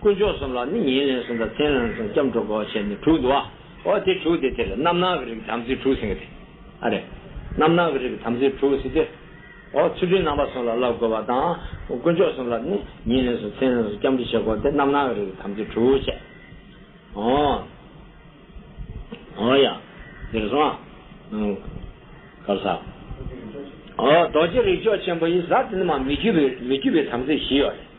དཀོན་མཆོག་གསུམ་ལ་ནི་ཉིན་ལན་གསུམ་དང་མཚན་ལན་གསུམ་སྐྱབས་འགྲོ་དགོས་ཞེས་ནི་དྲུག་འདུ་བ་འོ་དེ་དྲུག་སྟེ་དེ་ལ་རྣམ་སྣང་གི་རིགས་དམ་ཚིག་དྲུག་ཟིན་གྱི་དེ་ཨ་རེ། རྣམ་སྣང་གི་རིགས་དམ་ཚིག་དྲུག་ཟིན་ཏེ། འོ་ཚུལ་ཁྲིམས་རྣམ་པ་གསུམ་ལ་བསླབ་དགོས་པ་དང། དཀོན་མཆོག་གསུམ་ལ་ནི་ཉིན་ལན་གསུམ་མཚན་ལན་གསུམ་སྐྱབས་འགྲོ་བྱེད་དགོས་ཏེ་རྣམ་སྣང་གི་རིགས་དམ་ཚིག་དྲུག་བྱས། འོ། འོ་ཡ། འདིར་སོང་ཨ། གབ་ས། འོ་རྡོ་རྗེ་རིགས་མཆོག་ཆེན་པོ་ཡི་གཟའ་དེ་ནི་མ་མི་རྒྱུད་པའི་དམ་ཚིག་བཞི་ཡོད་རེད།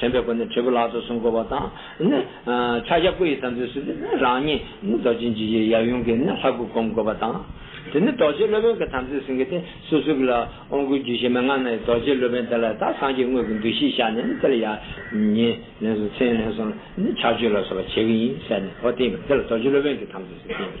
དྲན་པའི་སྒོ་ནས་དྲིལ་བུ་ལག་ཏུ་བཟུང་བསྐོར་བ་དང། ཕྱག་རྒྱ་སྐུ་ཡི་དམ་ཚིག་གསུམ་གྱི་རང་ཉིད་རྡོ་རྗེ་འཇིགས་བྱེད་ཡབ་ཡུམ་གྱི་ལྷ་སྐུར་བསྒོམ་བསྐོར་བ་དང། དེ་ནས་རྡོ་རྗེ་སློབ་དཔོན་གྱི་དམ་ཚིག་ཟིན་གྱི་སྟེ་སོ་སོ་གྱི་ལ་ཨོང་བསྐུར་རྒྱུད་བཞི་མན་ངག་སྣ་ཡིས་རྡོ་རྗེ་སློབ་དཔོན་དེ་ལ་ད་སངས་རྒྱས་དངོས་ཀྱི་འདུ་ཤེས་བཞག་ནས་དེ་ལ་ཡ། ཉེ། ལན་གསུམ་མཚན་ལན་གསུམ་ལ་ཕྱག་མཆོད་ལ་སོགས་པ་བྱེད་ཀྱི་ཡིན་ཟེར་ནས་འོ་བསྟན་པས་དེ་ལ་རྡོ་རྗེ་སློབ་དཔོན་གྱི་དམ་ཚིག་ཟེར་གྱི།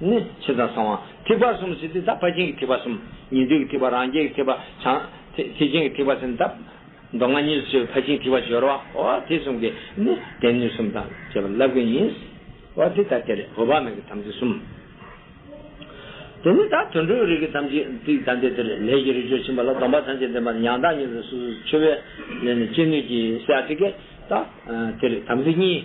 ནི། ཕྱི་དང་གསང་བ། ཐིགས་པ་གསུམ་ཟིན་ཏེ་ད་ཕར་ཕྱིན་གྱི་ཐིགས་པ་གསུམ། ཉེ་དུས་ཀྱི་ཐིགས་པ་རང་རྒྱལ་གྱི་ཐིགས་པ་བྱང། ཐིགས་ཆེན་གྱི་ཐིགས་པ་ཟིན་ཏེ་ད། མདོ་སྔགས་གཉིས་སུ་ཕྱེ་བའི་ཕར་ཕྱིན་ཐིགས་པ་བཞི་རོ། འོ་དེ་གསུམ་གྱིས་ནི། བདེན་གཉིས་གསུམ་དང་བཅས་པ་བསླབ་ཀྱི་ཡིན། འོ་དེ་ལྟར་དེ་ལས་འོད་དཔག་མེད་ཀྱི་དམ་ཚིག་གསུམ། དེ་ནས་ད་དུད་འགྲོའི་རིགས་ཀྱི་དམ་ཚིག་ཅིག་དང་དེ་དེར་ལས་ཀྱི་རིགས་ཆོས་ཕྱིན་པ་ལ་སྡོམ་པ་ཐམས་ཅད་ལྡན་པ་ནི་ཡང་དག་ཉིད་དུ་སོ་སོར་ཆུད་པས་ལས་ནི་ཅི་ནུས་ཀྱིས་བྱ་སྟེ། ད་དེར་དམ་ཚིག་གཉིས།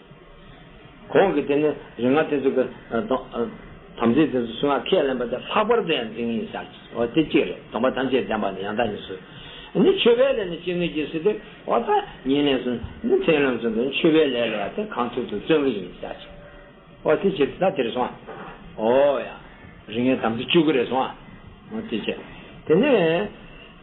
གོང་གི་དེ་ནི་རིག་སྔགས་དེ་ཚོ་གི་དམ་ཚིག་དེ་ཚོ་སུ་ངག་ཁས་ལེན་པ་དེ་ལྷག་པར་དུ་ཡང་འཛིན་ངེས་ཤག་ཅེས་སོ་དེ་གཅིག་རེད་སྡོམ་པ་ཐམས་ཅད་ལྡན་པ་ནི་ཡང་དག་ཉིད་སོ། ནི་མཆོད་པའི་ལས་ནི་སྤྱི་ངེས་ཀྱིས་སུ་སྟེ་འོ་ད་ཉིད་ནས་སུ་ནི་མཚན་ལམ་སུ་དེ་མཆོད་པའི་ལས་ལ་ཡང་དེ་གང་ཐུག་ཏུ་བརྩོན་གྱི་ཡིན་ཤག་ཅེས་སོ་དེ་གཅིག་རེད་ད་དེ་རེ་སོང་ཨ་འོ་ཡ། རིག་སྔགས་དམ་ཚིག་བཅུ་དགུ་རེ་སོང་ཨ་འོ་དེ་གཅིག་དེ་ནས།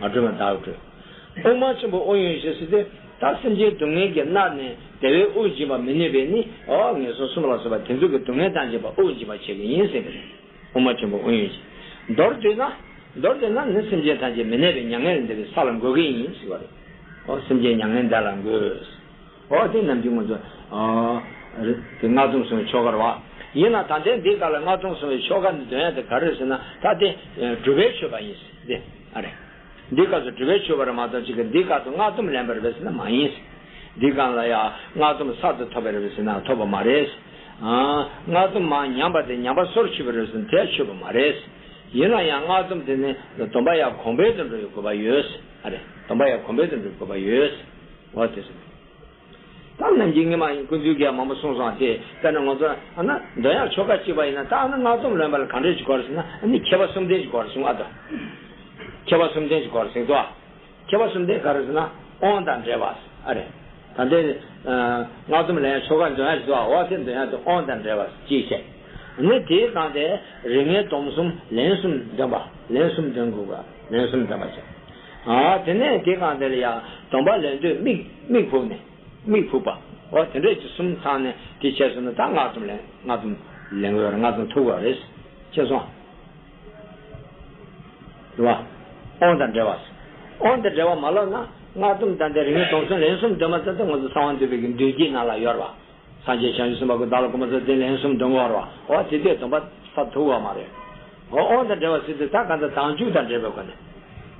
མ་བགྲོས་མ་བདག་བགྲོས། དབུ་མ་ཆེན་པོ་ཨོ་ཡོན་བཞི་བསྲེ་སྟེ། ད་སེམས་ཅན་སྡུག་བསྔལ་གྱིས་མནར་ནས་བདེ་བའི་དབུགས་འབྱིན་པར་མི་ནུས་པས་ནི་ཨོ་ངན་སོང་གསུམ་ལ་སོགས་པ་དེ་ཚོ་གི་སྡུག་བསྔལ་དང་བཅས་པ་དབུགས་འབྱིན་པར་བྱེད་པས་ཡིན་སྲིད་པས། དབུ་མ་ཆེན་པོ་ཨོ་ཡོན་བཞི། མདོར་བསྡུས་ན། མདོར་བསྡུས་ན་ནི་སེམས་ཅན་ཐམས་ཅད་མི་གནས་པའི་མྱ་ངན་ལས་འདས་པའི་ས་ལ་འགོད་ཀྱི་ཡིན་སྲིད་པ་རེད། ཨོ་སེམས་ཅན་མྱ་ངན་འདས་ལ་འགོད། འོ་དེ་རྣམས་ཀྱིས་ངོ་ཚོ། དེ་སྔགས་རྫོགས་སོང་བའི་ཆོ་གར་བ། ཡིན་ལ་ད་ལྟའི་འདི་ཀ་ལ་སྔགས་རྫོགས་སོང་བའི་ཆོ་ག་འདི་འདོན་ཡ་དེ་ག་རེད་ཟེར་ན་ད་དེ་སྒྲུབ་པའི་མཆོད་པ་ཡིན། དེ་ཨ་རེ། འདི་ཀ་སོགས་སྒྲུབ་པའི་མཆོད་པ་རེད་མ་གཏོགས་ཅི་གི་འདི་ཀ་དུ་སྔགས་སྡོམ་ལེན་པ་རེད་བས་ཟེར་ན་མ་ཡིན། འདི་ཀ་ལ་ཡང་སྔགས་སྡོམ་གསར་དུ་ཐོབ་པ་རེད་བས་ཟེར་ན་ཐོབ་པ་མ་རེད། སྔགས་སྡོམ་མ་ཉམས་པ་དེ་ཉམས་པ་སོར་ཆུད་པ་རེད་བས་ཟེར་ན་དེ་ཡང་མཆོད་པ་མ་རེད། ཡིན་ལ་ཡང་སྔགས་སྡོམ་དེ་ནི་སྡོམ་པ་ཡང་གོང་འཕེལ་དུ་འགྲོ་བའི་དགོས་པ་ཡོད། ཨ་རེ། སྡོམ་པ་ཡང་གོང་འཕེལ་དུ་འགྲོ་བའི་དགོས་པ་ཡོད། བ་དེ་རེད། ད་ནམ་གྱི་ངེད་མ་ཡིན་ཀུན་འདུས་རྒྱལ་མང་པོ་གསུངས་སོང་དེ་ལྟ་ན་ང་ཚོ་ཨ་ན་འདོན་ཡག་ཆོ་ག་གཅིག་པ་ཡིན་ན་ད་ཨ་ན་སྔགས་སྡོམ་ལོན་པ་ལ་གང་འདྲས་ཀྱི་སྐོར་ཟེར་ན་ཨ་ནི་ཁྱད་པར་གསུམ་ལྡན་གྱི་སྐོར་གསུངས་ཨ་དོ། ཁྱད་པར་གསུམ་ལྡན་གྱི་སྐོར་གསུངས་ཏོ། ཁྱད་པར་གསུམ་ལྡན་ག་རེ་ཟེར་ན་དབང་དང་འབྲེལ་བ་ཨ་རེད། ད་ལྟའི་སྔགས་སྡོམ་ལོན་ཡག་ཆོ་ག་འདོན་ཡག་བྱེད་ཏོ་ཨ་དེ་འདོན་ཡག་དེ་དབང་དང་འབྲེལ་བ་གཅིག་བྱས། ཨ་ནི་དེའི་སྟངས་དེ་རིགས་ངེས་སྡོམ་གསུམ་ལན་གསུམ་འདོན་པ་ལན་གསུམ་འདོན་དགོས་པ་ལན་གསུམ་འདོན་པ་བྱས། དེ་ནས་དེ་གང་དེ་ལ་ཡང་སྡོམ་པ་ལེན་དུས་དམིགས་ཕུག་ནས། དམིགས་ཕུག་པ། འོ་དེ་འདྲས་ཀྱི་གསུམ་ཚང་ནས་དེ་བྱས་སོང་ན་ད་སྔགས་སྡོམ་ལེན་སྔགས་སྡོམ་ལེན་དགོས་རེད་སྔགས་སྡོམ་ཐུབ་དགོས་རེད། ཅེས་སོང། དྲི་བ། ཨོང་དང་འབྲེལ་བ། ཨོང་དང་འབྲེལ་བ་མ་ལོག་ན་སྔགས་སྡོམ་དང་དེ་རིང་སྡོམ་གསུམ་ལན་གསུམ་སྡོད་མ་ཚར་ཐུན་མོང་དུ་གསང་བ་འདུས་པའི་མདུན་བསྐྱེད་རྣམས་ལ་གཡོར་བ། སངས་རྒྱས་བྱང་ཆུབ་སེམས་དཔའ་ཀུན་བདག་ལ་གོ་མ་ཚོལ་བརྟེན་ལན་གསུམ་འདོན་བར་བ་ཨོ་དེ་ལྟའི་སྡོམ་པ་ས་དུག་བ་མ་རེ་ཨོ་ཨོ་དང་འབྲེལ་བ་སི་ཏུ་ད་ག་ད་དང་བཅུ་དང་འབྲེལ་པའི་སྒོ་ནས་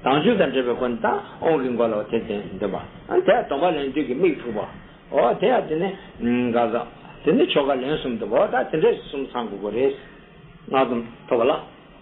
དང་བཅུ་དང་འབྲེལ་པའི་སྒོ་ནས་ད་ཨོང་གི་མགོ་ལ་ཨོ་དེ་ལྟའི་འདོན་པ་ཨ་དེ་སྡོམ་པ་ལན་བདུན་གྱི་དམིགས་ཐུག་བ་ཨོ་དེ་ཡང་དེ་ནས་ག་ད་དེ་ནས་ཆོ་ག་ལན་གསུམ་འདོན་པ་ཨོ་ད་དེ་འདྲས་སུ་གསུམ་ཚང་དགོས་དགོས་རེད། སྔགས་སྡོམ་ཐོབ་བ་ལ།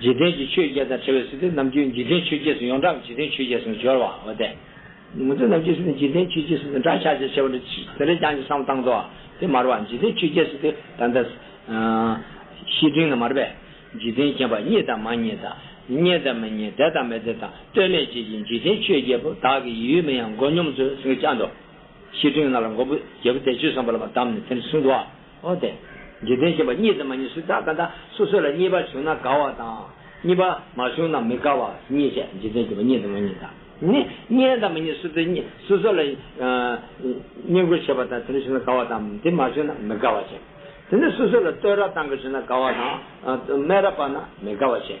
འཇིག་རྟེན་གྱི་ཆོས་བརྒྱད་དང་བྲལ་བའི་སྲིད་དུ་ནམ་རྒྱུན་འཇིག་རྟེན་ཆོས་བརྒྱད་སུ་ཡོངས་གྲགས་འཇིག་རྟེན་ཆོས་བརྒྱད་སུ་སྦྱོར་བ། འོ་དེ། ངོ་ཚ་ནམ་རྒྱུན་སྲིད་དུ་འཇིག་རྟེན་ཆོས་བརྒྱད་སྲིད་དུ་འདྲ་ཆགས་ཅེས་བྱ་བ་འདི་ཅི་དེ་ལས་ཀྱང་ཅི་བསམ་བཏང་དོ། དེ་མར་བ་འཇིག་རྟེན་ཆོས་བརྒྱད་སྲིད་དུ་ད་ལྟ། བཤེས་སྤྲིང་ན་མར་བས། འཇིག་རྟེན་མཁྱེན་པ་རྙེད་དང་མ་རྙེད་དང། རྙེད་དང་མི་རྙེད་དད་དང་མི་དད་དང་ལྟོས་མེད་བཅས་ཀྱི་འཇིག་རྟེན་ཆོས་བརྒྱད་པོ་དག་གི་ཡུལ་མིན་ཡང་མགོ་སྙོམས་སུ་སེང་གེ་སྤྱང་དུ། བཤེས་སྤྲིང་ན་ལ་མགོ་བོ་རྒྱལ་པོ་དད་ཆོས་བསམ་པ་ལ་བ་བསྡམས་ནས་དེར་བཟུང་དུ་བ། འོན་ཏེ། འཇིག་རྟེན་ཞེས་པ་གཉིས་དང་མ་གཉིས་སུ་དག་ག་ད་སོ་སོ་ལ་གཉིས་པ་བྱུང་ན་དགའ་བ་དང། གཉིས་པ་མ་བྱུང་ན་མི་དགའ་བ་གཉིས་བཤད་འཇིག་རྟེན་ཞེས་པ་གཉིས་དང་མ་གཉིས་དག་ནི་གཉིས་དང་མ་གཉིས་སུ་དེ་གཉིས་སོ་སོ་ལ། བསྙེན་བཀུར་བྱེད་པ་དང་དེ་འདྲ་བྱུང་ན་དགའ་བ་དང་དེ་མ་བྱུང་ན་མི་དགའ་བ་བཤད། དེ་ནས་སོ་སོ་ལ་བསྟོད་ར་བཏང་གི་བྱུང་ན་དགའ་བ་དང། སྨད་ར་བབས་ན་མི་དགའ་བ་བཤད།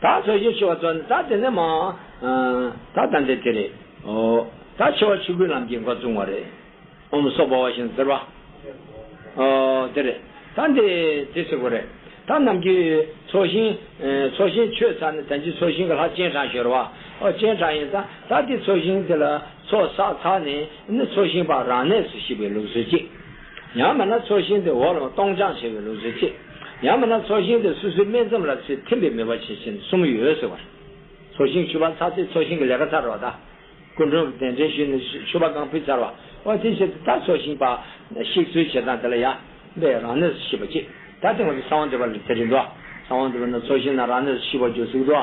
ད་ཚོད་བཞི་ཆུ་བ་བཙོ་ནས་ད་དེ་ནས་མ་ད་ད་འདི་དེ་རེད་ཨོ། ད་ཆུ་བ་ཆུ་ཁུལ་ལམ་གྱི་མགོ་བཙུགས་མ་རེད་ཨོམ་སོགས་པ་བ་ཞིང་ཟེར་བ་ཨོ་དེ་རེད་ད་འདི་དེ་སེ་གོ་རེད་ད་ནམ་གྱི་ཚོགས་ཞིང་ཚོགས་ཞིང་ཆོས་ཚར་ནས་དན་ཅིག་ཚོགས་ཞིང་གི་ལྷ་སྤྱན་དྲངས་ཞོར་བ་ཨོ་སྤྱན་དྲངས་ཡིན་ད་ད་དེ་ཚོགས་ཞིང་དེ་ལ་ཚོགས་བསགས་ཚར་ནས་ནི་ཚོགས་ཞིང་པ་རང་གནས་སུ་ཤི་བའི་ལུགས་སྲོལ་ཅིག། ཡང་མིན་ན་ཚོགས་ཞིང་དེ་འོག་ལ་སྟོང་སྦྱངས་བྱས་པའི་ལུགས་སུ་ཆེ། ཡང་མིན་ན་ཚོགས་ཞིང་དེ་སོ་སོའི་སྨད་མཚམས་ལ་ཚུལ་ཐིམ་པའི་མོས་པ་ཆེ་ཆེན་གསུམ་ཡོད་ཟེར་བར། ཚོགས་ཞིང་ཆུ་བ་ཚ་ཚེ་ཚོགས་ཞིང་གི་ལས་ཀ་ཚར་བ་དང། སྐུ་མགྲོན་གྱི་གདན་འདྲེན་ཞུས་ནས་ཆུ་བ་རྐང་ཕུད་ཚར་བ། འོ་དེའི་ཕྱིར་དེ་ལྟར་ཚོགས་ཞིང་པ། གཤེགས་ཚུལ་བྱེད་སྟངས་དེ་ལ་ཡང། པའི་རང་གནས་སུ་ཤི་བ་གཅིག། ད་དེ་སྔོན་གྱི་ས་བོན་འདྲེས་པ་ལས་དེ་རིགས་འགྲོ། ས་བོན་འདྲེས་པ་ན་ཚོགས་ཞིང་ན་རང་གནས་སུ་ཤི་བ་རྒྱུ་གཟུགས་འགྲོ།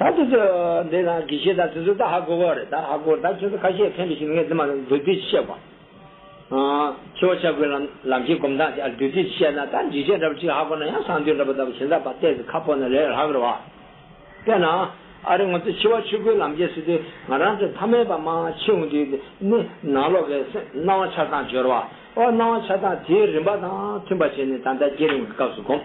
ད་དེ་ཚོ་འདི་ན་དགེ་བཤེས་དང་དེ་ཚོ་ད་ཧ་གོ་གོ་རེད་ད་ཧ་གོ་ད་ཁྱོད་ཚོ་ཁ་ཤས་ཕན་པའི་ཞིག་ངས་འདི་མ་ཟེར་བདུད་རྩི་བཤད་པ། འཆི་བ་ཆགས་སྒོའི་ལམ་ལམ་གྱི་གོམ་ཐག་དེ་བདུད་རྩི་བཤད་ན་ད་འཇིགས་བྱེད་འདྲ་པོ་ཅིག་ཧ་གོ་ན་ཡང་སང་དུས་འདྲ་པོ་ལྟ་བུ་བྱེད་འདྲ་པ་བལྟས་ཚེ་ཁ་ཕོག་ན་ལས་ལྷག་རེད་བ། དཔེར་ན། ཨ་རི་ང་ཚོ་འཆི་བ་ཆུ་སྒོའི་ལམ་བརྒལ་སྲིད་དུས་ང་རང་ཚོ་མཐའ་མའི་བར་མ་འཆི་འོང་དུས་ནི་ནང་ལོག་གི་སྣང་བ་ཆགས་སྟངས་སྦྱོར་བ། ཨོ་སྣང་བ་ཆགས་སྟངས་དེའི་རིམ་པ་དང་མཐུན་པ་བྱས་ནས་ད་ཟླ་བརྒྱད་རིང་གི་སྐབས་སུ་གོམས།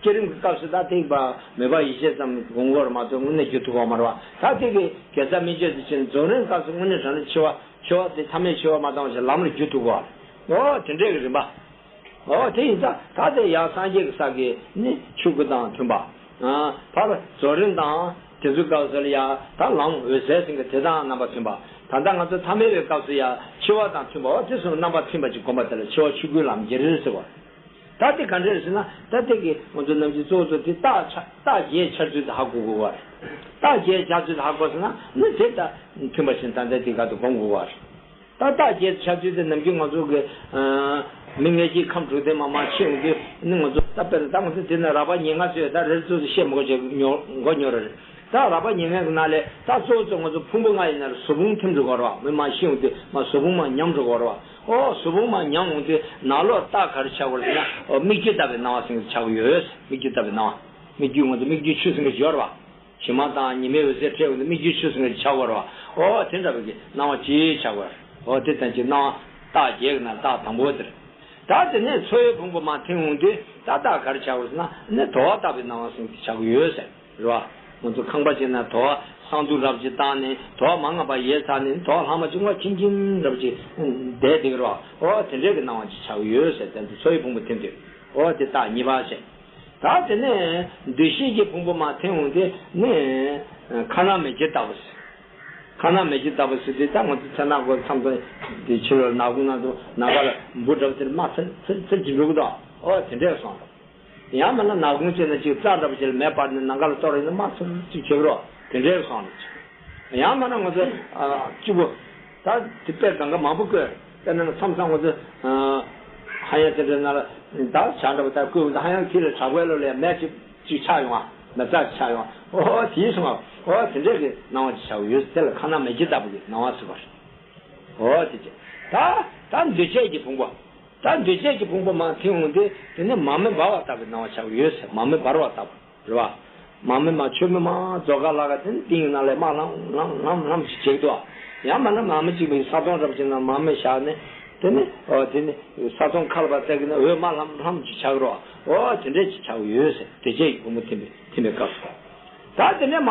བསྐྱེད་རིམ་གྱི་སྐབས་སུ་ཐ་ཐིག་པའི་མོས་པ་ཡེ་ཤེས་ཙམ་གྱི་གོང་བུར་མ་ཐོན་སྔུན་གནས་རྒྱུ་ཐུགས་བ་མར་བ་ཐ་ཐིག་གི་དགེ་རྩ་སྨིན་བྱེད་དུ་ཕྱིན་རྫོགས་རིམ་སྐབས་སུ་སྔུན་གནས་དྲན་རིམ་འཆི་བ་འཆི་བ་སྟེ་ཐ་མའི་འཆི་བ་མ་བཏང་བ་བཞིན་ལམ་ལ་རྒྱུ་ཐུགས་བ། འོ་དེ་འདྲའི་གྱི་རིམ་པ། འོ་དེ་ཡིན་ཙང་ཐ་དད་ཡང་སངས་རྒྱས་ཀྱི་ས་དགེ་ནི་ཆོས་སྐུ་དང་མཐུན་པ། བར་བར་རྫོགས་རིམ་དང། དེ་ཚོའི་སྐབས་སུ་ལ་ཡང་ད་ལམ་འོད་གསལ་སེང་གེ་དེ་དང་རྣམ་པ་མཐུན་པ། ད་ལྟ་ང་ཚོ་ཐ་མལ་བའི་སྐབས་སུ་ཡང་འཆི་བ་དང་མཐུན་པའོ་དེ་གསུམ་རྣམ་པ་མཐུན་པ་གཅིག་བསྒོམ་པ་དེ་ལ་འཆི་བ་ཆོས་སྐུའི་ལམ་རྒྱལ་རིལ་ཟེར་བ། ད་དེ་ག་འདྲ་རེད་ཟེར་ན། ད་དེ་གའི་ང་ཚོ་རྣམས་ཀྱི་གཙོ་བོ་གཙོ་དེ་རྟགས་ཆ་རྟགས་བརྒྱད་འཆར་ཚུལ་དག་གོ་དགོས་པ་རེད། རྟགས་བརྒྱད་འཆར་ཚུལ་དག་གོ་ཟེར་ན་ནི་དེ་ལྟར་མཐུན་པ་བཞིན་ད་ལྟའི་དེ་ག་དུ་གོ་དགོས་པ་རེད། ད་རྟགས་བརྒྱད་འཆར་ཚུལ་དེ་ནམ་རྒྱུན་ང་ཚོ་གི། མི་ལྔས་སྐྱེས་ཁམས་དྲུག་ལྡན་མ་མ་ཕྱེ་ཡོང་དུས་ནི་ང་ཚོ། ད་དཔེར་ན་ད་ང་ཚོ་དེ་ནི་རགས་པ་ཉེར་ལྔ་ཚོས་ད་རེར་གཙོ་བོ་ཤེས་མགོ་བྱས་མགོ་ཉོ་ར་རེད། ད་རགས་པ་ཉེར་ལྔའི་གི་ནང་ལས་ད་གཙོ་བོ་གཙོ་ང་ཚོ་ཕུང་པོ་ལྔ་ཡི་ནང་རུ་ཟོ་ཕུང་ཐིམ་འགྲོ་དགོས་ར་བ་མི་མ་ཤི་ཡོང་དུས་མ་ཟོ་ཕུང་མ་ཉམས་འགྲོ་དགོས་ར་བ། ཧོ། གཟུ་བོ་མ་མྱང་འོངས་ཏེ་ནག་ལོགས་ལྟག་གར་བྱ་བར་བྱེད་ན། སྨིག་རྒྱུ་བཏབ་པའི་སྣང་བ་སེང་གེ་བྱ་བ་ཡོད། སྨིག་རྒྱུ་བཏབ་པའི་སྣང་བ། སྨིག་རྒྱུའི་ངོ་ཚ་སྨིག་རྒྱུའི་ཆུ་སེང་གེ་སྦྱོར་བ། བྱི་མ་དང་ཉི་མའི་འོད་ཟེར་འཕྲད་འོངས་ཏེ་སྨིག་རྒྱུའི་ཆུ་སེང་གེ་བྱ་བར་བ། ཧོ། དེ་འདྲ་བའི་གི་སྣང་བ་ཅི་བྱ་བར། ཧོ། དེ་ལྟ་ཅི་སྣང་བ། རྟགས་བརྒྱད་ཀྱི་ན་རྟགས་དང་པོ་དེར། ད་དེ་ནས་མཚོ་ཡི་ཕུང་པོ་མ་མཐིང་འོངས་ཏེ་ད་རྟག་གར་བྱ་བར་བྱེད་ན། ནི་དོ་བ་བཏབ་པའི་སྣང་བ་སེང་གེ་བྱ་བ་ཡོད། རེ་བ། ང་ཚོ་ཁང་པ་བྱས་ན་དོ་བ་སང་དུ་རབ་ཅིག་བཏང་ནས་དོ་བ་མ་ང་པ་ཡས་ཚར་ནས་དོ་བ་ལྷག་མ་བཅིང་བ་ཁྱིམ་ཁྱིམ་རབ་ཅིག་བསྡད་འདེགས་རོགས་ཨོ་དེ་འདྲས་ཀྱི་གནང་བ་ཅིག་ཆགས་ཀྱི་ཡོད་ཟེར་ཐན་དུ་ཚོ་ཡི་ཕུང་པོ་འཐེན་དུས་ཨོ་དེ་རྟགས་གཉིས་པ་བྱས། ད་དེ་ནས་འདུ་ཤེས་ཀྱི་ཕུང་པོ་མ་འཐེན་འོང་དེ་ནས་ཁ་ནག་མེ་ལྕེ་ལྟ་བུ་ཟེར། ཁ་ནག་མེ་ལྕེ་ལྟ་བུ་ཟེར་དུས་ད་ང་ཚོ་ཚལ་ནག་གོ་འཚམས་དང་དེ་ཕྱི་རོལ་ནག་གུང་ན་དུ་ནག་པར་འབུ་འདྲ་བུ་དེར་མ་ཚིལ་ཚིལ་ཚིལ་གྱིས་འབྲུག་གདོང་ཨོ་དེ་འདྲས་སོང་རོགས། ཡང་མིན་ན་ནག་གུང་བྱས་ན་ཅིག་རྩ་འདྲ་པོ་བྱས་ལ་མེ་སྤར་ནས་ནང་ག་ལ་གཏོར་རེ་ནས་མར་ཚུར་ཅིག་བྱེད་རོགས་དེ་འདྲའི་བཟང་རེད་ཅེས་པ། ཡང་མིན་ན་ངོ་ཚོས། སྐྱིད་པོ། ད་དེ་དཔེར་ད་འགའ་མང་པོ་བཀོད། དཔེར་ན་མཚམས་སང་ངོ་ཚོས། ཧ་ཡང་དེ་འདྲའི་ནང་ལ་ད་བྱ་འདྲ་པོ་ད་བཀོད་འོང་ད་ཧ་ཡང་ཁྱེད་ལ་བྲག་བརྐོས་ལོ་ལ་ཡང་མེ་ཅིག་ཅིག་ཆགས་ཡོང་ང། མེ་རྩ་ཅིག་ཆགས་ཡོང་ང། ཨོ་ཧོ་དེའི་སོང་ང། ཨོ་དེ་འདྲའི་གི་སྣང་བ་ཅིག་ཆགས་ཡོད་ཟེར་ལ་ཁ་ནག་མེ་ཁྱི་ལྟ་བུ་གི་སྣང་བ་ཟེར་བ་རེད། ཨོ་དེ་ཅི། ད་ད་འདུས་བྱས་ཀྱི་ཕུང་པོ། ད་འདོད་ཆད་ཀྱི་ཕུང་པོ་མ་དེ་འོང་སྟེ་དེ་ནས་མ་མི་འབར་བ་ལྟ་བུའི་སྣང་བ་ཆགས་ཡོད་ཟེར་མ་མི་འབར་བ་ལྟ་བུ་རེད་བ། མ་མི་མ་ཆོས་མི་མ་རྫོགས་ག་ལ་ག་དེ་ནི་ཏིང་ངེ་ན་ལས་མ་ལྷམ་ལྷམ་ལྷམ་ལྷམ་ཞིག་བྱེད་དོ། ཡང་མ་ན་མ་མི་གཅིག་པའི་ས་སྟོང་རབ་ཅིག་ན་མ་མི་བཞག་ནས། དེ་ནི་འོ་དེ་ནི་ས་སྟོང་ཁ་ལ་པ་ཙག་གི་ན་འོད་མ་ལྷམ་ལྷམ་ཅིག་ཆགས་རོ། འོ་དེ་འདྲས་ཅིག་ཆགས་ཡོད་ཟེར་འདོད་ཆད་ཀྱི་ཕུང་པོ་ཐིམ་པའི་སྐབས་སུ། ད་དེ་ནས་མ།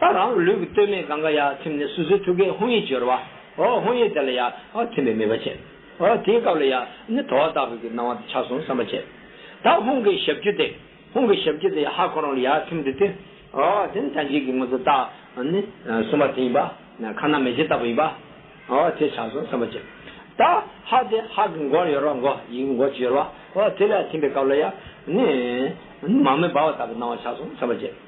ད་རང་ལུས་ཀྱི་སྟོད་སྨད་གང་ག་ཡ་ཐིམ་ནས་སོ་སོའི་ཐུགས་ཀའི་ཧཱུྃ་ཡིག་བརྗོད། རོ་ཧཱུྃ་ཡིག་དེ་ལ་ཡ་ཨཱ་ཐིམ་པའི་མོས་པ་བྱེད། དེའི་སྐབས་ལ་ཡ་ནི་དོ་བ་དག་པའི་གི་སྣང་བ་དང་ཆ་གསུམ་བསམ་པ་བྱེད། ད་ཧཱུྃ་གི་ཞབས་ཀྱུ་སྟེ། ཧཱུྃ་གི་ཞབས་ཀྱུ་དེ་ཡ་ཧཱ་གང་རུང་ལ་ཡ་ཐིམ་དུ་སྟེ། དེ་ནི་ཐམས་ཅད་ཀྱི་ངོ་ཚ་ད་ནི་གསུམ་པ་དེ་ཡིན་པ། ཁ་ན་མེ་ལྕེ་ལྟ་བུ་ཡིན་པ། དེ་ཆ་གསུམ་བསམ་པ་བྱེད། ད་ཧཱ་དེ་ཧཱ་གི་མགོར་ཡོད་རོ་མགོ་ཡིག་གི་མགོ་ཅི་ཡོད་པ། དེ་ལ་ཡ་ཐིམ་པའི་སྐབས་ལ་ཡ་ནི། མ་མོའི་སྦ་བ་ལྟ་བུའི་སྣང་བ་ཆ་གསུམ་བསམ་པ་བྱེད།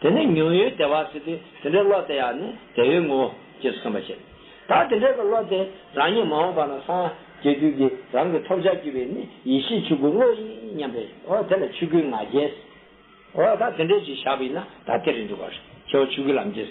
དེ་ནས་ཉུང་ཡུལ་སྡེ་བ་སུ་དེ་དེ་འདྲའི་བློ་དེ་ཡང་ནི་དེ་ཡོད་ངོ། ཅེས་གསུངས་པ་བཞིན། ད་དེ་འདྲའི་བློ་དེ་རང་ཉིད་མ་འོངས་པ་ན་སངས་རྒྱས་རྒྱུད་ཀྱི་རང་གི་ཐོབ་བྱར་གྱུར་པའི་ནི་ཡེ་ཤེས་ཆོས་སྐུ་བློ་ཡིན་སྙམ་པས་འོ་དེ་ལ་ཆོས་སྐུའི་ང་རྒྱལ། འོ་ད་དེ་འདྲའི་ཅིག་བཞག་པས་ན་ད་དེ་རེ་འདུག་གོ། ཁྱེའུ་ཆོས་སྐུའི་ལམ་རྒྱལ།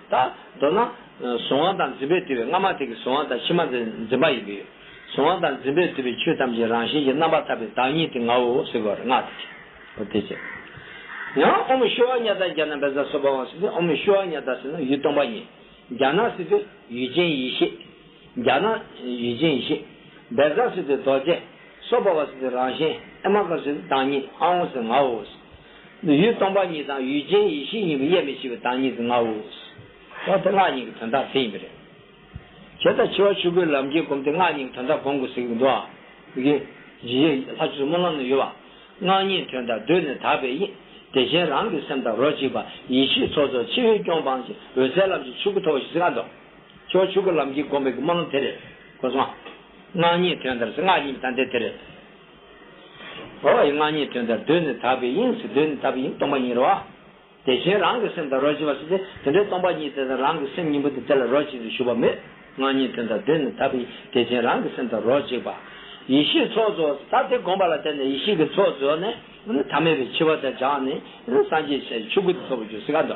ད་མདོར་ན། གཟུང་བ་དང་འཛིན་པས་བསྡུས་པའི་སྔ་མ་དེ་གའི་གཟུང་བ་དང་ཕྱི་མ་དེ་འཛིན་པ་ཡིན་གྱི། གཟུང་བ་དང་འཛིན་པས་བསྡུས་པའི་ཆོས་ཐམས་ཅད་རང་བཞིན་གྱིས་རྣམ་པར་ཐར་པའི་བདག་ཉིད་དེ་ངའོ་ཟེར་བར་བསྔགས་ཏེ་བྱ། ཨོ་དེ་ཅི། ཡང་ཨོ་མི་ཤོ་བ་ཛྙཱ་ད་རྒྱ་ན་བེ་ཛ་སོ་བྷ་ཝང་སི་སྟེ་ཨོ་མི་ཤོ་བ་ཛྙཱ་ད་སེ་ན་ཡུལ་སྟོང་པ་ཉིད། རྒྱ་ན་སི་སྟེ་ཡུལ་ཅན་ཡེ་ཤེས། རྒྱ་ན། ཡུལ་ཅན་ཡེ་ཤེས། བེ་ཛ་སི་སྟེ་རྡོ་རྗེ། སོ་བྷ་ཝ་སི་སྟེ་རང་བཞིན། ཨེ་མ་ཀ་སི་སྟེ་བདག་ཉིད་ཨའོ་སི་ངའོ། ཡུལ་སྟོང་པ་ཉིད་དང་ཡུལ་ཅན་ཡེ་ཤེས་གཉིས་ཀྱི་དབྱེར་མེད་ཤེས་པའི་བདག་ཉིད་དུ་ངའོ། འོ་དེ་སྔགས་ཉིད་ཀྱི་དོན་དག་དེ་ཡིན་པས་རེད། བྱེ་བྲག་འཆི་བ་ཆོས་སྐུའི་ལམ་གྱི་སྒོམ་དེ་སྔགས་ཉིད་ཀྱི་དོན་དག་གོང་གི་གཟིགས་པའི་མདོ་ཨ། ཀྱི། ཇི་ཡི་ལྷ་ཆོས་སྨོན་ལམ་ནས་ཡོད་པ། སྔགས་ཉིད་དོན་དག་གདོད་ནས་དག་པའི་དབྱིངས། བདེ་ཆེན་རང་གི་སེམས་དང་རོ་གཅིག་པ། ཡེ་ཤེས་ཚོགས་རྫོགས་ཕྱི་བས་སྐྱོང་སྤངས་ཀྱི་འོད་གསལ་ལམ་གྱི་ཆོས་སྐུ་ཐོབ་བ་ཞེས་སྔགས་མདོ། འཆི་བ་ཆོས་སྐུའི་ལམ་གྱི་སྒོམ་པའི་སྨོན་ལམ་དེ་རེད། གོ་སོང། སྔགས་ཉིད་དོན་དག་སྔགས་ཉིད་ཀྱི་དང་དེ་དེ་རེད། རོ་ཡི་སྔགས་ཉིད་དོན་དང་བསྡོས་ནས་དག་པའི་དབྱིངས་སུ་བསྡོས་ནས་དག་པའི་དབྱིངས་སྟོང་པ་ཉིད་རོ། དེ་བཞིན་རང་གི་སེམས་དང་རོ་གཅིག་པ་སོགས་ཏེ་དེ་འདྲའི་སྟོང་པ་ཉིད་དེ་དང་རང་གི་སེམས་གཉིས་པོ་དེ་དེ་ལ་རོ་གཅིག་ཏུ་ཞུགས་པ་མེད། སྔགས་ཉིད་དོན་དང་བསྡོས་ནས་དག་པའི་དེ་བཞིན་རང་གི་སེམས་དང་རོ་གཅིག་པ། ཡེ་ཤེས་ཚོགས་རྫོགས་ས་དེ་བསྒོམ་པ་ལ་བརྟེན་ནས་ཡེ་ཤེས་ཀྱི་ཚོགས་རྫོགས་ནས། ཐ་མལ་པའི་འཆི་བ་དག་སྦྱངས་ནས་སངས་རྒྱས་ཆེ་བའི་ཆོས་སྐུ་དེ་ཐོབ་པར་གྱུར་སྲིད་ཀ།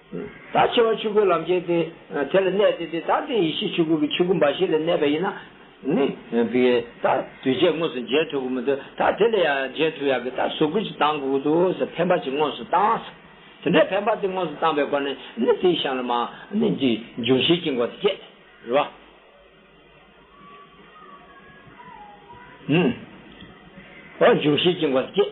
ད་བྱེ་བ་ཆོས་སྐུའི་ལམ་བྱེད་དེ། དེ་ལ་གནས་ཏེ་དེ་ད་དེ་ཡེ་ཤེས་ཆོས་སྐུ་གི་ཆོས་སྐུ་འབའ་ཞིག་ལ་གནས་པ་ཡིན་ན་ནི། བི། ད་དུས་བྱས་དངོས་སུ་མཇལ་ཐུག་གི་མི་འདུག་ད་དེ་ལ་ཡང་མཇལ་ཐུག་ཡག་གི་ད་ཟུག་གུ་ཞིག་བཏང་དགོས་ཀྱི་འདུག་ཟེར་འཕེན་པ་ཅིག་དངོས་སུ་བཏང། དེ་འདྲའི་འཕེན་པ་དེ་དངོས་སུ་བཏང་པའི་སྒོ་ནས་ནི་དེའི་གཤམ་ལ་མ་ནི་འདི་འབྱུང་བཞིའི་དཀྱིལ་འཁོར་དེ་བསྐྱེད། རེད་བ། འོ་འབྱུང་བཞིའི་དཀྱིལ་འཁོར་དེ་བསྐྱེད།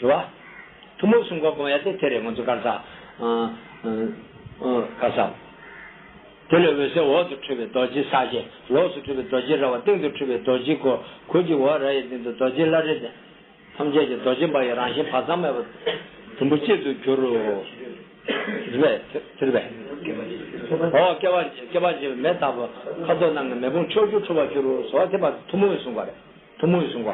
དྲི་བ། ཐུན་མོང་གསུམ་ཀ་བསྒོམ་ཡ་དེ་དེ་རེད་ང་ཚོ་དཀར་ཟའདཀར་ཟ། དེ་ལས་འོད་ཟེར་འོག་ཏུ་འཕྲོས་པས་རྡོ་རྗེ་ས་བརྒྱད། ལོགས་སུ་འཕྲོས་པས་རྡོ་རྗེ་ར་བ་སྟེང་དུ་འཕྲོས་པས་རྡོ་རྗེ་གོ་གོལ་གྱི་བོ་ར་ཡའི་སྟེང་དུ་རྡོ་རྗེ་བླ་རེ་ལྡན། ཐམས་ཅད་ཀྱི་རྡོ་རྗེ་འབར་བའི་རང་བཞིན་བག་ཙམ་མེད་པ། དུམ་བུ་གཅིག་ཏུ་གྱུར། རེ་བའི་དེ་རེ་བའི། འོ་སྐལ་བ་འབྱེད་པའི་མེ་ལྟ་བུ། ཁ་དོག་རྣམས་ནི་མེ་དཔུང་ཕྱོགས་བཅུར་འཕྲོ་བར་གྱུར། སོ་བ་དེ་བར་དུ་ཐུན་མོང་བའི་གསུམ་ཀ་རེད། ཐུན་མོང་གསུང་བ།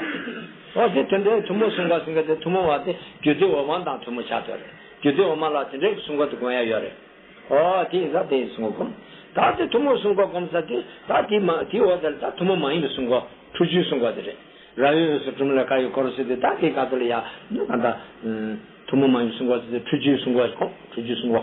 འོ་དེ་དེ་འདྲའི་ཐུན་མོང་གསུང་བ་ཟིན་ག་དེ་ཐུན་མོང་བ་དེ་རྒྱུད་སྡེ་འོག་མ་དང་ཐུན་མོང་ཆ་དོ་རེད། རྒྱུད་སྡེ་འོག་མ་ལ་དེ་འདྲའི་གི་གསུང་བ་དེ་དགོངས་ཡ་ཡོད་རེད། འོ་དེ་ཡིན་ས་དེ་ཡིན་གསུང་བ་བསྒོམ། ད་དེ་ཐུན་མོང་གསུང་བ་བསྒོམ་ས་དེ་ད་དེ་མ་དེའི་འོག་དེར་ད་ཐུན་མོང་མ་ཡིན་པའི་གསུང་བ་ཁྲུ་བཅུའི་གསུང་བ་དེ་རེད། ར་ཡོད་ཡོད་སུ་གྲུམ་ལ་ཀ་ཡོད་ཀོ་རུ་སུ་དེ་ད་དེ་ག་དུ་ལ་ཡ། ད། ཐུན་མོང་མ་ཡིན་པའི་གསུང་བ་དེ་ཁྲུ་བཅུའི་གསུང་བ་བསྒོམ་ཁྲུ་བཅུའི་གསུང་བ།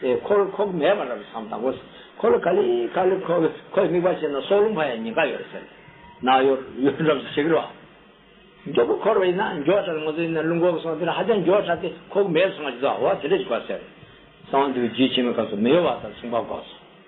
ཁོ་ལ་ཁོག་མེད་པ་རབ་བཟང་དང་པོ། ཁོ་ལ་ཁ་ལི་ཁ་ལི་ཁོ་ཁོའི་དམིགས་པ་ཤེས་ན་སྲོག་རླུང་ཕ་ཡ་ཉིན་ཁ་ཡོད་ཟེར། ན་ཡོད་ཡོད་རབས་སུ་ཞིག་རོགས། མགྱོགས་པོ་འཁོར་བ་ཡིན་ན་མགྱོགས་དྲགས་ན་ང་ཚོ་ཡིན་ན་རླུང་འཁོར་བ་སོང་དེར་ཧ་ཅང་མགྱོགས་དྲགས་ཏེ་ཁོག་མེད་སོང་བ་ཇི་ལྟར་བྱེད་འོ་དེ་འདྲ་ཞིག་དགོས་ཟེར། གསང་འདུས་རྒྱུད་ཆེན་མོའི་སྐབས་སུ་མི་གཡོ་བ་དང་མཚུངས་པ་འགོག་སོ།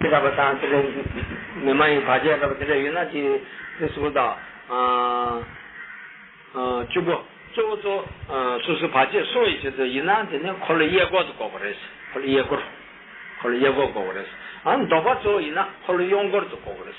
ཁྱེད་ལྟ་བུ་དང་དེ་ལས་མི་མ་ཡིན་བར་ཆད་ལྟ་བུ་དེ་འདྲ་ཡོད་ན་དེ་ནི་གསུམ་དང། བཅུ་པོ། གཙོ་བོ་གཙོ་སོ་སོའི་བར་ཆད་སོགས་ཡི་ཆད་དུ་ཡིན་ན་དེ་ནི་འཁོར་ལོ་གཡས་སྐོར་དུ་འགོག་པ་རེད། འཁོར་ལོ་གཡས་སྐོར། འཁོར་ལོ་གཡས་སྐོར་འགོག་པ་རེད། འདོགས་པ་གཙོ་བོ་ཡིན་ན་འཁོར་ལོ་གཡོན་སྐོར་དུ་འགོག་པ་རེད།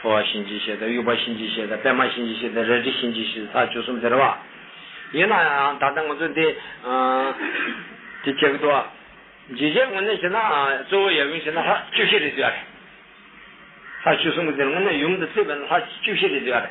ཐོ་བ་གཤིན་རྗེ་གཤེད་དང་དབྱུག་པ་གཤིན་རྗེ་གཤེད་དང་པད་མ་གཤིན་རྗེ་གཤེད་དང་རལ་གྲི་གཤིན་རྗེ་གཤེད་ས་བཅུ་གསུམ་དེར་བ། ཡིན་ན་ཡང་ད་ལྟ་ང་ཚོ་འདི། དེ་བྱེད་ཀྱི་འདུག་བ། ཇི་བྱས་དངོས་གནས་བྱས་ན་གཙོ་བོ་ཡབ་ཡུམ་བྱས་ན་ལྷ་བཅུ་བཞི་རེད་འདོད་ཡ་རེད། ས་བཅུ་གསུམ་གྱི་དེར་དངོས་གནས་ཡུམ་དང་བརྩེ་བས་ན་ལྷ་བཅུ་བཞི་རེད་འདོད་ཡ་རེད།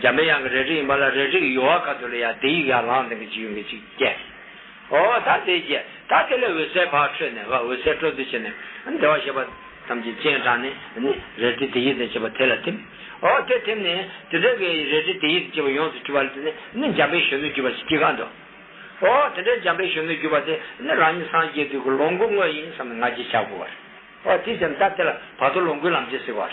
འཇམ་པའི་དབྱངས་ཀྱི་རས་བྲིས་ཡིན་པ་ལ་རས་བྲིས་ཀྱི་ཡོལ་བ་ཁ་ཐུག་ལ་ཡང་དེ་ཡིག་ཡར་ལངས་སྟེང་གི་འཇིགས་ཡུལ་མི་གཅིག་བསྐྱལ། ཨོ་ད་དེ་བསྐྱལ། ད་དེ་ལས་འོད་ཟེར་བག་འཕྲོས་ནས་བ་འོད་ཟེར་སྤྲོ་བསྡུ་བྱས་ནས། བདེ་བ་ཞེས་པ། ཐམས་ཅད་སྤྱན་དྲངས་ནས་ནི། རས་བྲིས་དེ་ཡིག་དང་བཅས་པ་དེ་ལ་ཐིམ། ཨོ་དེ་ཐིམ་ནས། དེ་འདྲའི་གི་རས་བྲིས་དེ་ཡིག་དང་བཅས་པ་ཡོངས་སུ་གྱུར་པ་ལ་དེ་ནས་ནི་འཇམ་པའི་གཞོན་ནུ་བརྒྱུད་པ་ཞེས་བགྱི་གང་དུ། ཨོ་དེ་འདྲའི་འཇམ་པའི་གཞོན་ནུ་བརྒྱུད་པ་དེ་ནི་རང་ཉིད་སངས་རྒྱས་དུས་ཀྱི་ལོངས་སྐུ་དངོས་ཡིན་བསམས་ནས་ང་རྒྱལ་བྱ་དགོས་པར། ཨོ་དེའི་ཕྱིར་ད་དེ་ལ་བར་དོ་ལོངས་སྐུའི་ལམ་ཆེན་ཟེར་བར།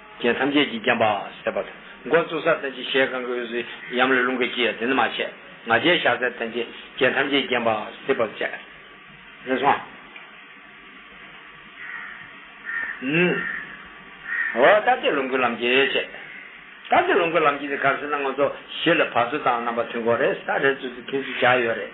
རྒྱན་ཐམས་ཅད་ཀྱིས་བརྒྱན་པ། སེར་བ་དང་མགོ་བཙུགས་སར་བསྟན་ཅིང་ཞལ་གང་གི་འོད་ཟེར་ཡམ་ལ་རླུང་གིས་བསྐྱིལ་ཡང་དེ་ནི་མ་བྱས། ང་རྒྱལ་བཞག་སར་བསྟན་ཅིང་རྒྱན་ཐམས་ཅད་ཀྱིས་བརྒྱན་པ། སེར་བ་བཅས། རེ་ཟུང། ཧཱུྃ། འོད་ལྟ་སྟེ་ལོངས་སྐུའི་ལམ་གྱིས་བྱས། ལྟ་སྟེ་ལོངས་སྐུའི་ལམ་གྱིས་ནི་གར་སོང་ན་ང་ཚོ་བཞི་ལ་བར་ཚུལ་དང་རྣམ་པ་མཐུན་གོ་རེ་ས་རེ་ཚུལ་དུ་མཐུན་ཚུལ་བྱ་ཡོད་རེད།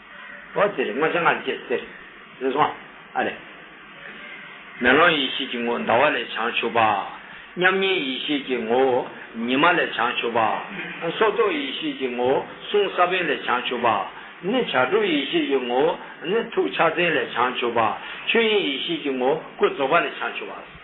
འོ་དེར་སྔོ་ལྗང་ངར་སྐྱེས་ཟེར། འདི་སོང་ཨ་རེ། མེ་ལོང་ཡེ་ཤེས་ཀྱི་ངོ་ཟླ་བ་ལས་བྱང་ཆུབ་པ། མཉམ་ཉིད་ཡེ་ཤེས་ཀྱི་ངོ་བོ་ཉི་མ་ལས་བྱང་ཆུབ་པ། སྲོག་རྟོག་ཡེ་ཤེས་ཀྱི་ངོ་བོ་གསུང་ས་བོན་ལས་བྱང་ཆུབ་པ། ནི་བྱ་གྲུབ་ཡེ་ཤེས་ཀྱི་ངོ་བོ་ནི་ཐུགས་ཕྱག་མཚན་ལས་བྱང་ཆུབ་པ། ཆོས་དབྱིངས་ཡེ་ཤེས་ཀྱི་ངོ་བོ་སྐུ་རྫོགས་པ་ལས་བྱང་ཆུབ་པ།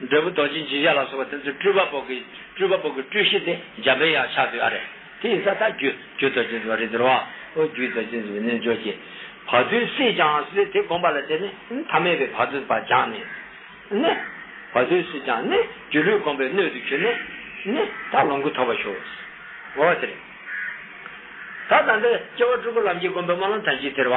འབྲས་བུ་རྡོ་རྗེ་འཇིགས་བྱེད་ལ་སོགས་པ་དེ་ཚོའི་སྤྲུལ་པ་པོ་གི་སྤྲུལ་པ་པོ་གི་སྤྲུལ་གཞི་དེ་འཇམ་པའི་དབྱངས་ཕྱག་རྒྱུད་ཨ་རེ། དེ་ཡི་ས་ཐག་རྒྱུད་རྒྱུད་རྡོ་རྗེ་འཛིན་པ་རི་དེར་བ། ཨོ་རྒྱུད་རྡོ་རྗེ་འཛིན་པའི་རྣལ་འབྱོར་གྱིས། བར་དོའི་སྲིད་སྦྱངས་སེ་དེ་བསྒོམས་པ་ལ་དེ་ནི་ཐ་མལ་པའི་བར་དོའི་བར་སྦྱངས་ནས། ནི། བར་དོའི་སྲིད་སྦྱངས་ནི། སྒྱུ་ལུས་བསྒོམས་པའི་སྣོད་དུ་གྱུར་ནས། ནི། དག་ལོངས་སྐུ་ཐོབ་པར་ཞུགས། ངོ་བོ་དེར། ད་ལྟ་འདིར་སྐྱེ་བ་སྤྲུལ་སྐུ་ལམ་གྱིས་བསྒོམས་པའི་དམར་ལམ་དམ་ཅན་དེར་བ།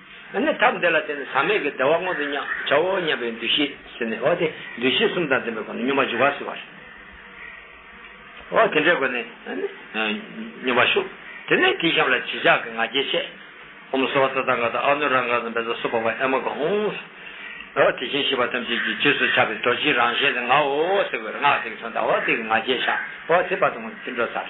ཨ་ནི་ཐབས་འདི་ལ་བརྟེན་ནས་ཟག་མེད་ཀྱི་བདེ་བ་མངོན་དུ་བྱའོ་སྙམ་པའི་འདུ་ཤེས་ཟིན་ནས་འོ་དེ་འདུ་ཤེས་གསུམ་དང་ལྡན་པའི་སྒོ་ནས་སྙོམས་པར་འཇུག་བ་སྲིད་པར་བྱའོ། འོ་དེ་འདྲའི་སྒོ་ནས་སྙོམས་པར་ཞུགས། དེ་ནས་དེའི་ཤམ་ལ་བྱི་ཆག་གི་ང་རྒྱལ་བཤད། ཧོ་མ་སོ་བ་ཙཱ་ཏཱ་ག་ཏཱ་ཨ་ནུ་ར་ག་ཟན་བེ་ཛ་སོ་བ་བ་ཨེ་མ་ག་ཧཱུྃ། འོ་དེ་བཞིན་གཤེགས་པ་ཐམས་ཅད་ཀྱི་རྗེས་སུ་ཆགས་པའི་རྡོ་རྗེའི་རང་བཞིན་ཏེ་ངའོ་ཟེར་བའི་སྔགས་དེ་གསུངས་དང་འོ་དེ་ཀྱི་ང་རྒྱལ་བཤགས། འོ་དེ་བར་དུ་ངོ་མཚར་སྤྲིན་འཕྲོ་སར།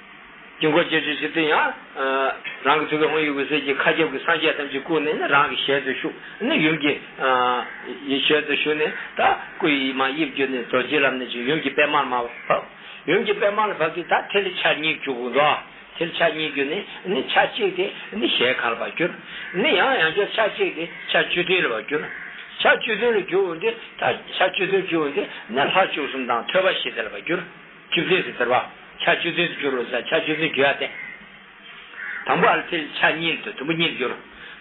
དཀྱིལ་འཁོར་བཅས་བརྗོད་བྱེད་དུ་ཡང། རང་གི་ཐུགས་ཀའི་དབང་ཡུལ་འོད་གསལ་གྱི་མཁའ་ཁྱབ་ཀྱི་སངས་རྒྱས་ཐམས་ཅད་བཀུག་ནས་རང་གི་ཞལ་དུ་ཞུགས་ནས་ཡུམ་གྱི། ཞལ་དུ་ཞུགས་ནས་ད་སྐུ་ཡི་མ་དབྱིབས་བསྒྱུར་ནས་རྡོ་རྗེའི་ལམ་ནས་ཀྱི་ཡུམ་གྱི་པདྨར་མ་བབས། ཡུམ་གྱི་པདྨ་ལ་བབས་ཏེ་ད་ཐལ་ཆ་གཉིས་བསྒྱུར་གོ། ཐལ་ཆ་གཉིས་བསྒྱུར་ནས་ཆ་གཅིག་སྟེ་ཞལ་ཁ་ལ་བ་བསྒྱུར། ཡང་ཡང་བསྐྱར་ཆ་གཅིག་སྟེ་ཆ་བཅུ་བདུན་ལ་བ་བསྒྱུར། ཆ་བཅུ་བདུན་ལ་བསྒྱུར་འོ་འདི་ད་ཆ་བཅུ་བདུན་བསྒྱུར་འོ་འདི་ནས་ལྷ་བཅུ་གསུམ་དང་ཐོད་པ་བཞི་དེ་ལ་བ་བསྒྱུར། བཅུ་བདུན་སུ་དར་བ། ཆ་བཅུ་བདུན་དུ་འགྱུར་རོ་ཟ་ཆ་བཅུ་བདུན་རྒྱུ་ཡང་བསྟན། དང་པོ་ཨལ་ཐིལ་ཆ་གཉིས་དུ་དུམ་བུ་གཉིས་འགྱུར།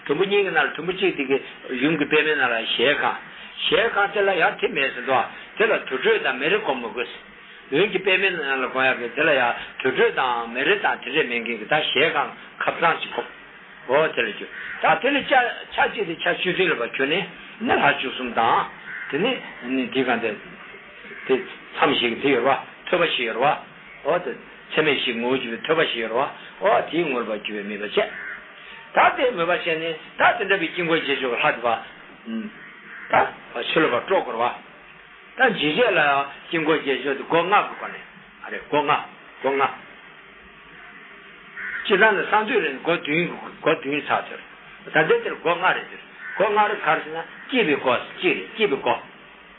དུམ་བུ་གཉིས་ཀྱི་ནང་ལ་དུམ་བུ་གཅིག་དེ་གི་ཡུམ་གྱི་པདྨའི་ནང་ལ་ཞལ་གང། ཞལ་གང་དེ་ལ་ཡང་ཐིག་མེད་ཟིན་ཏོ། དེ་ལ་དུར་ཁྲོད་དང་མེ་རི་བསྒོམ་མི་དགོས། ཡུམ་གྱི་པདྨའི་ནང་ལ་གང་ཡང་མེད་དེ་ལ་ཡང་དུར་ཁྲོད་དང་མེ་རི་དང་དེ་འདྲས་མེད་མཁན་གྱི་དག་ཞལ་གང་ཁབ་གཙང་གཅིག་བསྒོམ། འོ་དེ་ལ་འགྱུར། དག་དེ་ལས་ཆ་གཅིག་དེ་ཆ་བཅུ་བདུན་ལ་བ་གྱུར་ནས་ནི་ལྷ་བཅུ་གསུམ་དང། དེ་ནས་ནི་དེའི་གང་དེ། དེ། མཚམས་ཤིག་དེ་ཡོད་པ། ཐོས་པ་ཞིག་ཡོད་པ། འོ་དེ། ཚད་མེད་ཞིག་ངོ་བོ་གྱུར་པའི་ཐོས་པ་ཞིག་ཡོད་པ། འོ་དེའི་ངོར་པར་གྱུར་པའི་མོས་པ་ཆད། ད་དེའི་མོས་པ་ཆད་ནས། ད་དེ་འདྲ་བའི་དཀྱིལ་འཁོར་རྗེས་འཇུག་གི་ལྷ་དེ། པདྨ། ད། ཆོས་ལ་བར་དཀྲོགས་བསྐོར་བ། ད་འཇིགས་བྱེད་ལ། དཀྱིལ་འཁོར་རྗེས་འཇུག་དེ་སྒོ་ལྔ་གི་སྒོ་ནས། ཨ་རེ་སྒོ་ལྔ། སྒོ་ལྔ། སྤྱིར་བཏང་ན་གསང་འདུས་རེད་སྒོ་བདུན། སྒོ་བདུན་ཚར་དེར། ད་འདི་དེར་སྒོ་ལྔ་རེད་འདིར། སྒོ་ལྔ་རེད་ག་རེ་ཟེར་ན། སྐྱེས་པའི་སྒོ། གཅིག་རེད་སྐྱེས་པའི་སྒོ།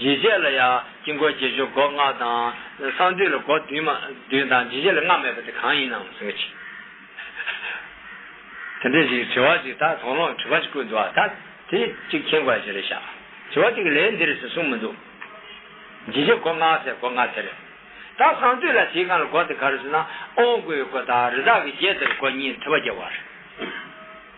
ཇི་སྐད་ལ་ཡང་དཀྱིལ་འཁོར་རྗེས་འཇུག་སྒོ་ལྔ་དང། གསང་འདུས་ལ་སྒོ་བདུན་མ་བདུན་དང་ཇི་སྐད་ལ་སྔགས་མེད་པ་དེ་གང་ཡིན་ནམ་ཟེར་བ་གྱིས། དེ་འདྲའི་ཞིག་དྲི་བ་གཅིག་དག་དོགས་སློང་དྲི་བ་གཅིག་ཀུན་འདུ་བ་དག་དེ་གཅིག་མཁྱེན་དགོས་ཞེས་རེ་བྱ། དྲི་བ་གཅིག་ལས་འདིར་ཞེས་གསུངས་མི་འདུག། ཇི་སྐད་སྒོ་ལྔའི་ཚེ་སྒོ་ལྔ་ཟེར། དག་གསང་འདུས་ལ་དེའི་གང་ལ་སྒོ་དེ་གར་ཟེར་ན་ཨོང་སྐུའི་སྒོ་དང་རི་དྭགས་ཀྱི་རྗེས་དེར་སྒོ་གཉིས་མཐུད་པ་བརྒྱད་བར།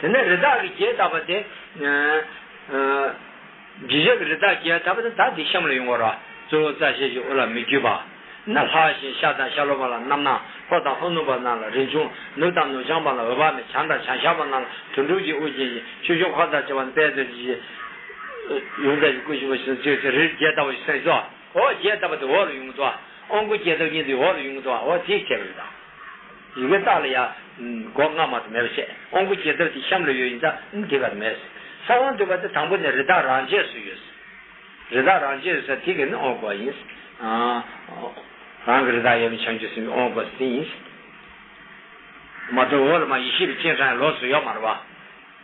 དེ་ནས་རི་དྭགས་ཀྱི་རྒྱས་བཏབ་པ་དེ། རྗེས་ཆགས་ཀྱི་རི་དྭགས་རྒྱས་བཏབ་པ་དེ་དག་དེའི་གཤམ་ལ་ཡོང་བར་ར། གཙོ་བོ་རྩ་བཤལ་གྱི་དབུ་ལ་མི་བརྒྱུད་པ། ན་ལྷ་བཞིན་ཤ་དང་ཤ་ལོ་བ་ལ་རྣམ་སྣང་ལྷོ་དང་ལྷོ་ནུབ་པ་རྣམས་ལ་རིན་འབྱུང་ནུབ་དང་ནུབ་བྱང་པ་ལ་འོད་དཔག་མེད་བྱང་དང་བྱང་ཤར་པ་རྣམས་ལ་དོན་གྲུབ་ཀྱི་དབུ་རྒྱན་ཅིང་ཆོས་འབྱུང་འཁོར་དང་བཅས་པ་དཔལ་རྡོ་རྗེ་ཆེན། ཡུམ་བདག་གི་སྐུ་ཆེན་པོ་ཆེན་པོ་སྤྱོད་ཚེ་རིར་རྒྱས་བཏབ་པ་ཞེས་གསུངས་སོ། འོག་རྒྱས་བཏབ་པ་དེ་འོག་ལ་ཡོངས་བསྡུ་བ། ཨོང་སྐུ་རྒྱས་བཏབ་ཀྱིན་དེ་འོག་ལ་ཡོངས་བསྡུ་བའོ་དེའི་ཁྱད་པར་རི་དྭགས། རི་བོའི་རྟགས་ལ་ཡང། སྒོ་ལྔ་མ་དུ་མས་པ་བཤད། དབང་པོ་བརྒྱད་དག་དེ་ཤམ་ལ་ཡོད་ཡིན་ཙང་དེ་གར་མེད། ས་དབང་འདོད་པ་དེ་དང་པོ་ནས་རི་དྭགས་རང་ཆས་སུ་ཡོད། རི་དྭགས་རང་ཆས་སུ་དེ་གས་ནི་དབང་བསྐུར་བ་ཡིན། རང་གི་རི་དྭགས་ཡབ་ཡུམ་བྱང་ཆུབ་སེམས་ཀྱི་དབང་བསྐུར་བ་སྟེ་དེ་ཡིན། མ་དོ་འོག་ལ་མ་ཡེ་ཤེས་པའི་སྤྱན་ཧྲཱི་ལོགས་སུ་ཡོད་མ་རུ་བ།